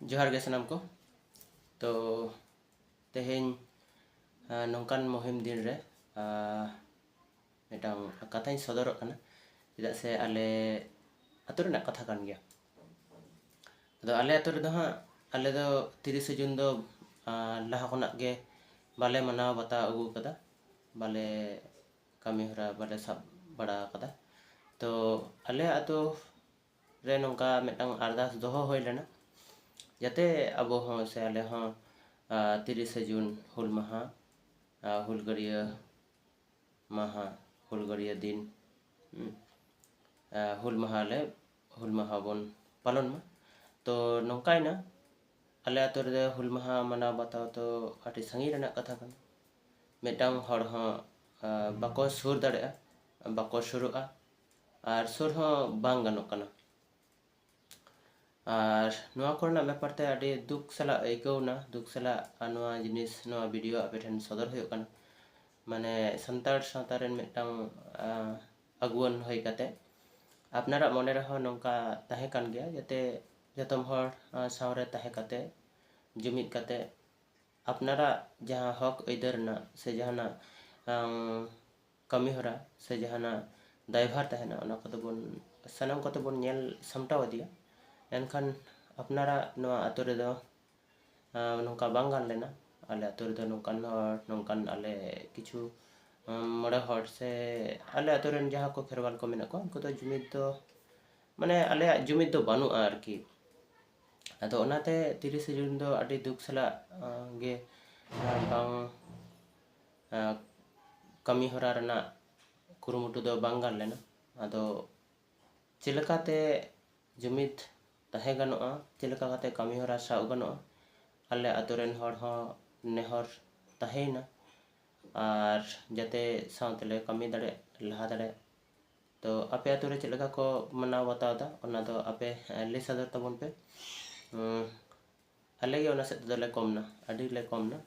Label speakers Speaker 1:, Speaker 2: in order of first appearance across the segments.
Speaker 1: ᱡᱚᱦᱟᱨ ᱜᱮ ᱥᱟᱱᱟᱢ ᱠᱚ ᱛᱚ ᱛᱮᱦᱮᱧ ᱱᱚᱝᱠᱟᱱ ᱢᱩᱦᱤᱢ ᱫᱤᱱ ᱨᱮ ᱢᱤᱫᱴᱟᱝ ᱠᱟᱛᱷᱟᱧ ᱥᱚᱫᱚᱨᱚᱜ ᱠᱟᱱᱟ ᱪᱮᱫᱟᱜ ᱥᱮ ᱟᱞᱮ ᱟᱛᱳ ᱨᱮᱱᱟᱜ ᱠᱟᱛᱷᱟ ᱠᱟᱱ ᱜᱮᱭᱟ ᱟᱫᱚ ᱟᱞᱮ ᱟᱛᱳ ᱨᱮᱫᱚ ᱦᱟᱸᱜ ᱟᱞᱮ ᱫᱚ ᱛᱤᱨᱤᱥᱮ ᱡᱩᱱ ᱫᱚ ᱞᱟᱦᱟ ᱠᱷᱚᱱᱟᱜ ᱜᱮ ᱵᱟᱞᱮ ᱢᱟᱱᱟᱣ ᱵᱟᱛᱟᱣ ᱟᱹᱜᱩ ᱠᱟᱫᱟ ᱵᱟᱞᱮ ᱠᱟᱹᱢᱤ ᱦᱚᱨᱟ ᱵᱟᱞᱮ ᱥᱟᱵ ᱵᱟᱲᱟ ᱠᱟᱫᱟ ᱛᱚ ᱟᱞᱮ ᱟᱛᱳ ᱨᱮ ᱱᱚᱝᱠᱟ ᱢᱤᱫᱴᱟᱝ ᱟᱨᱫᱟᱥ ᱫᱚᱦᱚ ᱦᱩᱭ ᱞᱮᱱᱟ ᱡᱟᱛᱮ ᱟᱵᱚ ᱦᱚᱸ ᱥᱮ ᱟᱞᱮ ᱦᱚᱸ ᱛᱤᱨᱤᱥᱮ ᱡᱩᱱ ᱦᱩᱞ ᱢᱟᱦᱟ ᱦᱩᱞᱜᱟᱹᱨᱭᱟᱹ ᱢᱟᱦᱟ ᱦᱩᱞᱜᱟᱹᱨᱭᱟᱹ ᱫᱤᱱ ᱦᱩᱞ ᱢᱟᱦᱟ ᱞᱮ ᱦᱩᱞ ᱢᱟᱦᱟ ᱵᱚᱱ ᱯᱟᱞᱚᱱ ᱢᱟ ᱛᱚ ᱱᱚᱝᱠᱟᱭᱮᱱᱟ ᱟᱞᱮ ᱟᱛᱳ ᱨᱮᱫᱚ ᱦᱩᱞ ᱢᱟᱦᱟ ᱢᱟᱱᱟᱣ ᱵᱟᱛᱟᱣ ᱫᱚ ᱟᱹᱰᱤ ᱥᱟᱺᱜᱤᱧ ᱨᱮᱱᱟᱜ ᱠᱟᱛᱷᱟ ᱠᱟᱱᱟ ᱢᱤᱫᱴᱟᱝ ᱦᱚᱲ ᱦᱚᱸ ᱵᱟᱠᱚ ᱥᱩᱨ ᱫᱟᱲᱮᱭᱟᱜᱼᱟ ᱵᱟᱠᱚ ᱥᱩᱨᱩᱜᱼᱟ ᱟᱨ ᱥᱩᱨ ᱦᱚᱸ ᱵᱟᱝ ᱜᱟᱱᱚᱜ ᱠᱟᱱᱟ ᱟᱨ ᱱᱚᱣᱟ ᱠᱚᱨᱮᱱᱟᱜ ᱵᱮᱯᱟᱨ ᱛᱮ ᱟᱹᱰᱤ ᱫᱩᱠ ᱥᱟᱞᱟᱜ ᱟᱹᱭᱠᱟᱹᱣ ᱮᱱᱟ ᱫᱩᱠ ᱥᱟᱞᱟᱜ ᱟᱨ ᱱᱚᱣᱟ ᱡᱤᱱᱤᱥ ᱱᱚᱣᱟ ᱵᱷᱤᱰᱤᱭᱳ ᱟᱯᱮ ᱴᱷᱮᱱ ᱥᱚᱫᱚᱨ ᱦᱩᱭᱩᱜ ᱠᱟᱱᱟ ᱢᱟᱱᱮ ᱥᱟᱱᱛᱟᱲ ᱥᱟᱶᱛᱟ ᱨᱮᱱ ᱢᱤᱫᱴᱟᱝ ᱟᱹᱜᱩᱣᱟᱹᱱ ᱦᱩᱭ ᱠᱟᱛᱮ ᱟᱯᱱᱟᱨᱟᱜ ᱢᱚᱱᱮ ᱨᱮᱦᱚᱸ ᱱᱚᱝᱠᱟ ᱛᱟᱦᱮᱸ ᱠᱟᱱ ᱜᱮᱭᱟ ᱡᱟᱛᱮ ᱡᱚᱛᱚᱢ ᱦᱚᱲ ᱥᱟᱶᱨᱮ ᱛᱟᱦᱮᱸ ᱠᱟᱛᱮ ᱡᱩᱢᱤᱫ ᱠᱟᱛᱮ ᱟᱯᱱᱟᱨᱟᱜ ᱡᱟᱦᱟᱸ ᱦᱚᱠ ᱟᱹᱭᱫᱟᱹᱨ ᱨᱮᱱᱟᱜ ᱥᱮ ᱡᱟᱦᱟᱱᱟᱜ ᱠᱟᱹᱢᱤ ᱦᱚᱨᱟ ᱥᱮ ᱡᱟᱦᱟᱱᱟᱜ ᱫᱟᱭᱵᱷᱟᱨ ᱛᱟᱦᱮᱱᱟ ᱚᱱᱟ ᱠᱚᱫᱚ ᱵᱚᱱ ᱥᱟᱱᱟᱢ ᱠᱚᱛᱮ ᱵᱚᱱ ᱧᱮᱞ ᱥᱟᱢᱴᱟᱣ ᱤᱫᱤᱭᱟ ᱮᱱᱠᱷᱟᱱ ᱟᱯᱱᱟᱨᱟᱜ ᱱᱚᱣᱟ ᱟᱹᱛᱩ ᱨᱮᱫᱚ ᱱᱚᱝᱠᱟ ᱵᱟᱝ ᱜᱟᱱ ᱞᱮᱱᱟ ᱟᱞᱮ ᱟᱹᱛᱩ ᱨᱮᱫᱚ ᱱᱚᱝᱠᱟᱱ ᱦᱚᱲ ᱱᱚᱝᱠᱟᱱ ᱟᱞᱮ ᱠᱤᱪᱷᱩ ᱢᱚᱬᱮ ᱦᱚᱲ ᱥᱮ ᱟᱞᱮ ᱟᱹᱛᱩ ᱨᱮᱱ ᱡᱟᱦᱟᱸ ᱠᱚ ᱠᱷᱮᱨᱣᱟᱞ ᱠᱚ ᱢᱮᱱᱟᱜ ᱠᱚᱣᱟ ᱩᱱᱠᱩ ᱫᱚ ᱡᱩᱢᱤᱫ ᱫᱚ ᱢᱟᱱᱮ ᱟᱞᱮᱭᱟᱜ ᱡᱩᱢᱤᱫ ᱫᱚ ᱵᱟᱹᱱᱩᱜᱼᱟ ᱟᱨᱠᱤ ᱟᱫᱚ ᱚᱱᱟᱛᱮ ᱛᱤᱨᱤᱥᱮ ᱡᱩᱱ ᱫᱚ ᱟᱹᱰᱤ ᱫᱩᱠ ᱥᱟᱞᱟᱜ ᱜᱮ ᱵᱟᱝ ᱠᱟᱹᱢᱤ ᱦᱚᱨᱟ ᱨᱮᱱᱟᱜ ᱠᱩᱨᱩᱢᱩᱴᱩ ᱫᱚ ᱵᱟᱝ ᱜᱟᱱ ᱞᱮᱱᱟ ᱟᱫᱚ ᱪᱮᱫ ᱞᱮᱠᱟᱛᱮ ᱡᱩᱢᱤᱫ ᱛᱟᱦᱮᱸ ᱜᱟᱱᱚᱜᱼᱟ ᱪᱮᱫ ᱞᱮᱠᱟ ᱠᱟᱛᱮ ᱠᱟᱹᱢᱤ ᱦᱚᱨᱟ ᱥᱟᱵ ᱜᱟᱱᱚᱜᱼᱟ ᱟᱞᱮ ᱟᱛᱳ ᱨᱮᱱ ᱦᱚᱲ ᱦᱚᱸ ᱱᱮᱦᱚᱨ ᱛᱟᱦᱮᱸᱭᱮᱱᱟ ᱟᱨ ᱡᱟᱛᱮ ᱥᱟᱶ ᱛᱮᱞᱮ ᱠᱟᱹᱢᱤ ᱫᱟᱲᱮᱭᱟᱜ ᱞᱟᱦᱟ ᱫᱟᱲᱮᱭᱟᱜ ᱛᱚ ᱟᱯᱮ ᱟᱛᱳ ᱨᱮ ᱪᱮᱫ ᱞᱮᱠᱟ ᱠᱚ ᱢᱟᱱᱟᱣ ᱵᱟᱛᱟᱣ ᱮᱫᱟ ᱚᱱᱟ ᱫᱚ ᱟᱯᱮ ᱞᱟᱹᱭ ᱥᱚᱫᱚᱨ ᱛᱟᱵᱚᱱ ᱯᱮ ᱟᱞᱮ ᱜᱮ ᱚᱱᱟ ᱥᱮᱫ ᱛᱮᱫᱚ ᱞᱮ ᱠᱚᱢ ᱮᱱᱟ ᱟᱹᱰᱤ ᱞᱮ ᱠᱚᱢ ᱮᱱᱟ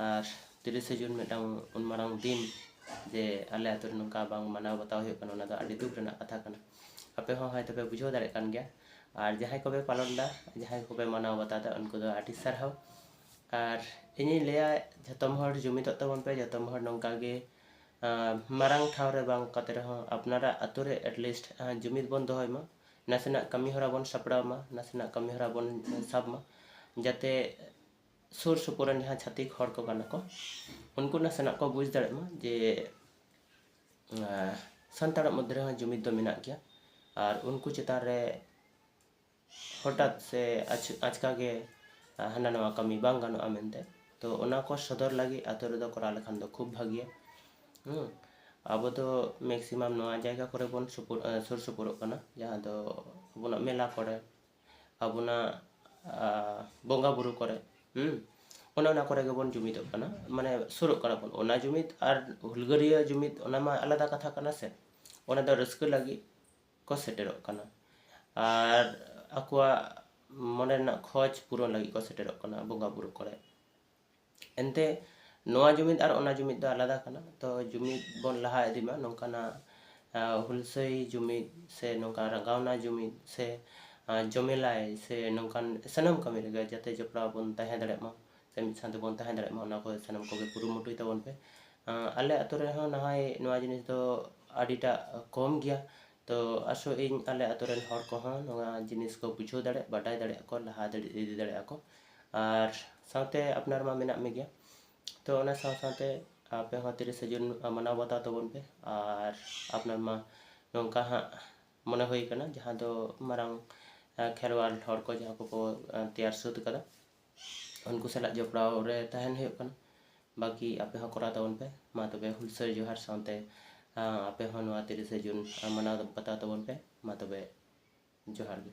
Speaker 1: ᱟᱨ ᱛᱤᱨᱤᱥᱮ ᱡᱩᱱ ᱢᱤᱫᱴᱟᱝ ᱩᱱ ᱢᱟᱨᱟᱝ ᱫᱤᱱ ᱡᱮ ᱟᱞᱮ ᱟᱹᱛᱩ ᱨᱮ ᱱᱚᱝᱠᱟ ᱵᱟᱝ ᱢᱟᱱᱟᱣ ᱵᱟᱛᱟᱣ ᱦᱩᱭᱩᱜ ᱠᱟᱱᱟ ᱚᱱᱟ ᱫᱚ ᱟᱹᱰᱤ ᱫᱩᱠ ᱨᱮᱱᱟᱜ ᱠᱟᱛᱷᱟ ᱠᱟᱱᱟ ᱟᱯᱮ ᱦᱚᱸ ᱦᱚᱭᱛᱳ ᱯᱮ ᱵᱩᱡᱷᱟᱹᱣ ᱫᱟᱲᱮᱭᱟᱜ ᱠᱟᱱ ᱜᱮᱭᱟ ᱟᱨ ᱡᱟᱦᱟᱸᱭ ᱠᱚᱯᱮ ᱯᱟᱞᱚᱱ ᱮᱫᱟ ᱡᱟᱦᱟᱸᱭ ᱠᱚᱯᱮ ᱢᱟᱱᱟᱣ ᱵᱟᱛᱟᱣ ᱮᱫᱟ ᱩᱱᱠᱩ ᱫᱚ ᱟᱹᱰᱤ ᱥᱟᱨᱦᱟᱣ ᱟᱨ ᱤᱧᱤᱧ ᱞᱟᱹᱭᱟ ᱡᱷᱚᱛᱚᱢ ᱦᱚᱲ ᱡᱩᱢᱤᱫᱚᱜ ᱛᱟᱵᱚᱱ ᱯᱮ ᱡᱷᱚᱛᱚᱢ ᱦᱚᱲ ᱱᱚᱝᱠᱟ ᱜᱮ ᱢᱟᱨᱟᱝ ᱴᱷᱟᱶ ᱨᱮ ᱵᱟᱝ ᱠᱟᱛᱮ ᱨᱮᱦᱚᱸ ᱟᱯᱱᱟᱨᱟᱜ ᱟᱹᱛᱩ ᱨᱮ ᱮᱴᱞᱤᱥᱴ ᱡᱩᱢᱤᱫ ᱵᱚᱱ ᱫᱚᱦᱚᱭ ᱢᱟ ᱱᱟᱥᱮᱱᱟᱜ ᱠᱟᱹᱢᱤ ᱦᱚᱨᱟ ᱵᱚᱱ ᱥᱟᱯᱲᱟᱣ ᱢᱟ ᱱᱟᱥᱮᱱᱟᱜ ᱠᱟᱹᱢᱤ ᱦᱚᱨᱟ ᱵᱚᱱ ᱥᱟᱵ ᱢᱟ ᱡᱟᱛᱮ ᱥᱩᱨ ᱥᱩᱯᱩᱨ ᱨᱮᱱ ᱡᱟᱦᱟᱸ ᱪᱷᱟᱹᱛᱤᱠ ᱦᱚᱲ ᱠᱚ ᱠᱟᱱᱟ ᱠᱚ ᱩᱱᱠᱩ ᱱᱟᱥᱮᱱᱟᱜ ᱠᱚ ᱵᱩᱡᱽ ᱫᱟᱲᱮᱜ ᱢᱟ ᱡᱮ ᱥᱟᱱᱛᱟᱲᱟᱜ ᱢᱚᱫᱽᱫᱷᱮ ᱨᱮᱦᱚᱸ ᱡᱩᱢᱤᱫ ᱫᱚ ᱢᱮᱱᱟᱜ ᱜᱮᱭᱟ ᱟᱨ ᱩᱱᱠᱩ ᱪᱮᱛᱟᱱ ᱨᱮ ᱦᱚᱴᱟᱛ ᱥᱮ ᱟᱪᱠᱟ ᱜᱮ ᱦᱟᱱᱟ ᱱᱚᱣᱟ ᱠᱟᱹᱢᱤ ᱵᱟᱝ ᱜᱟᱱᱚᱜᱼᱟ ᱢᱮᱱᱛᱮ ᱛᱚ ᱚᱱᱟ ᱠᱚ ᱥᱚᱫᱚᱨ ᱞᱟᱹᱜᱤᱫ ᱟᱹᱛᱩ ᱨᱮᱫᱚ ᱠᱚᱨᱟᱣ ᱞᱮᱠᱷᱟᱱ ᱫᱚ ᱠᱷᱩᱵ ᱵᱷᱟᱹᱜᱤᱭᱟ ᱟᱵᱚ ᱫᱚ ᱢᱮᱠᱥᱤᱢᱟᱢ ᱱᱚᱣᱟ ᱡᱟᱭᱜᱟ ᱠᱚᱨᱮ ᱵᱚᱱ ᱥᱩᱯᱩᱨ ᱥᱩᱨ ᱥᱩᱯᱩᱨᱚᱜ ᱠᱟᱱᱟ ᱡᱟᱦᱟᱸ ᱫᱚ ᱟᱵᱚᱱᱟᱜ ᱢᱮᱞᱟ ᱠᱚᱨᱮ ᱟᱵᱚᱱᱟᱜ ᱵᱚᱸᱜᱟ ᱵᱳᱨᱳ ᱠᱚᱨᱮ ᱚᱱᱮ ᱚᱱᱟ ᱠᱚᱨᱮ ᱜᱮᱵᱚᱱ ᱡᱩᱢᱤᱫᱚᱜ ᱠᱟᱱᱟ ᱢᱟᱱᱮ ᱥᱩᱨᱩᱜ ᱠᱟᱱᱟ ᱵᱚᱱ ᱚᱱᱟ ᱡᱩᱢᱤᱫ ᱟᱨ ᱦᱩᱞᱜᱟᱹᱨᱤᱭᱟᱹ ᱡᱩᱢᱤᱫ ᱚᱱᱟ ᱢᱟ ᱟᱞᱟᱫᱟ ᱠᱟᱛᱷᱟ ᱠᱟᱱᱟ ᱥᱮ ᱚᱱᱟ ᱫᱚ ᱨᱟᱹᱥᱠᱟᱹ ᱞᱟᱹᱜᱤᱫ ᱠᱚ ᱥᱮᱴᱮᱨᱚᱜ ᱠᱟᱱᱟ ᱟᱨ ᱟᱠᱚᱣᱟᱜ ᱢᱚᱱᱮ ᱨᱮᱱᱟᱜ ᱠᱷᱚᱡᱽ ᱯᱩᱨᱚᱱ ᱞᱟᱹᱜᱤᱫ ᱠᱚ ᱥᱮᱴᱮᱨᱚᱜ ᱠᱟᱱᱟ ᱵᱚᱸᱜᱟ ᱵᱩᱨᱩ ᱠᱚᱨᱮ ᱮᱱᱛᱮ ᱱᱚᱣᱟ ᱡᱩᱢᱤᱫ ᱟᱨ ᱚᱱᱟ ᱡᱩᱢᱤᱫ ᱫᱚ ᱟᱞᱟᱫᱟ ᱠᱟᱱᱟ ᱛᱚ ᱡᱩᱢᱤᱫ ᱵᱚᱱ ᱞᱟᱦᱟ ᱤᱫᱤ ᱢᱟ ᱱᱚᱝᱠᱟᱱᱟᱜ ᱦᱩᱞᱥᱟᱹᱭ ᱡᱩᱢᱤᱫ ᱥᱮ ᱱᱚᱝᱠᱟ ᱨᱟᱸᱜᱟᱣᱱᱟ ᱡᱩᱢᱤᱫ ᱥᱮ ᱡᱚᱢᱮᱞᱟᱭ ᱥᱮ ᱱᱚᱝᱠᱟᱱ ᱥᱟᱱᱟᱢ ᱠᱟᱹᱢᱤ ᱨᱮᱜᱮ ᱡᱟᱛᱮ ᱡᱚᱯᱲᱟᱣ ᱵᱚᱱ ᱛᱟᱦᱮᱸ ᱫᱟᱲᱮᱭᱟᱜ ᱢᱟ ᱥᱮ ᱢᱤᱫ ᱥᱟᱶ ᱛᱮᱵᱚᱱ ᱛᱟᱦᱮᱸ ᱫᱟᱲᱮᱭᱟᱜ ᱢᱟ ᱚᱱᱟ ᱠᱚ ᱥᱟᱱᱟᱢ ᱠᱚᱜᱮ ᱠᱩᱨᱩᱢᱩᱴᱩᱭ ᱛᱟᱵᱚᱱ ᱯᱮ ᱟᱞᱮ ᱟᱹᱛᱩ ᱨᱮᱦᱚᱸ ᱱᱟᱦᱚᱭ ᱱᱚᱣᱟ ᱡᱤᱱᱤᱥ ᱫᱚ ᱟᱹᱰᱤᱴᱟᱜ ᱠᱚᱢ ᱜᱮᱭᱟ ᱛᱚ ᱟᱥᱚᱜ ᱟᱹᱧ ᱟᱞᱮ ᱟᱹᱛᱩ ᱨᱮᱱ ᱦᱚᱲ ᱠᱚᱦᱚᱸ ᱱᱚᱣᱟ ᱡᱤᱱᱤᱥ ᱠᱚ ᱵᱩᱡᱷᱟᱹᱣ ᱫᱟᱲᱮᱭᱟᱜ ᱵᱟᱰᱟᱭ ᱫᱟᱲᱮᱭᱟᱜ ᱠᱚ ᱞᱟᱦᱟ ᱤᱫᱤ ᱫᱟᱲᱮᱭᱟᱜ ᱟᱠᱚ ᱟᱨ ᱥᱟᱶᱛᱮ ᱟᱯᱱᱟᱨ ᱢᱟ ᱢᱮᱱᱟᱜ ᱢᱮᱜᱮᱭᱟ ᱛᱚ ᱚᱱᱟ ᱥᱟᱶ ᱥᱟᱶᱛᱮ ᱟᱯᱮ ᱦᱚᱸ ᱛᱤᱨᱤᱥᱮ ᱡᱩᱱ ᱢᱟᱱᱟᱣ ᱵᱟᱛᱟᱣ ᱛᱟᱵᱚᱱ ᱯᱮ ᱟᱨ ᱟᱯᱱᱟᱨ ᱢᱟ ᱱᱚᱝᱠᱟ ᱦᱟᱸᱜ ᱢᱚᱱᱮ ᱦᱩᱭ ᱠᱟᱱᱟ ᱡᱟᱦᱟᱸ ᱫᱚ ᱢᱟᱨᱟᱝ ᱠᱷᱮᱨᱣᱟᱞ ᱦᱚᱲ ᱠᱚ ᱡᱟᱦᱟᱸ ᱠᱚᱠᱚ ᱛᱮᱭᱟᱨ ᱥᱟᱹᱛ ᱠᱟᱫᱟ ᱩᱱᱠᱩ ᱥᱟᱞᱟᱜ ᱡᱚᱯᱲᱟᱣ ᱨᱮ ᱛᱟᱦᱮᱱ ᱦᱩᱭᱩᱜ ᱠᱟᱱᱟ ᱵᱟᱠᱤ ᱟᱯᱮ ᱦᱚᱸ ᱠᱚᱨᱟᱣ ᱛᱟᱵᱚᱱ ᱯᱮ ᱢᱟ ᱛᱚᱵᱮ ᱦᱩᱞᱥᱟᱹᱭ ᱡᱚᱦᱟᱨ ᱥᱟᱶᱛᱮ ᱟᱯᱮ ᱦᱚᱸ ᱱᱚᱣᱟ ᱛᱤᱨᱤᱥᱮ ᱡᱩᱱ ᱢᱟᱱᱟᱣ ᱵᱟᱛᱟᱣ ᱛᱟᱵᱚᱱ ᱯᱮ ᱢᱟ ᱛᱚᱵᱮ ᱡᱚᱦᱟᱨ ᱜᱮ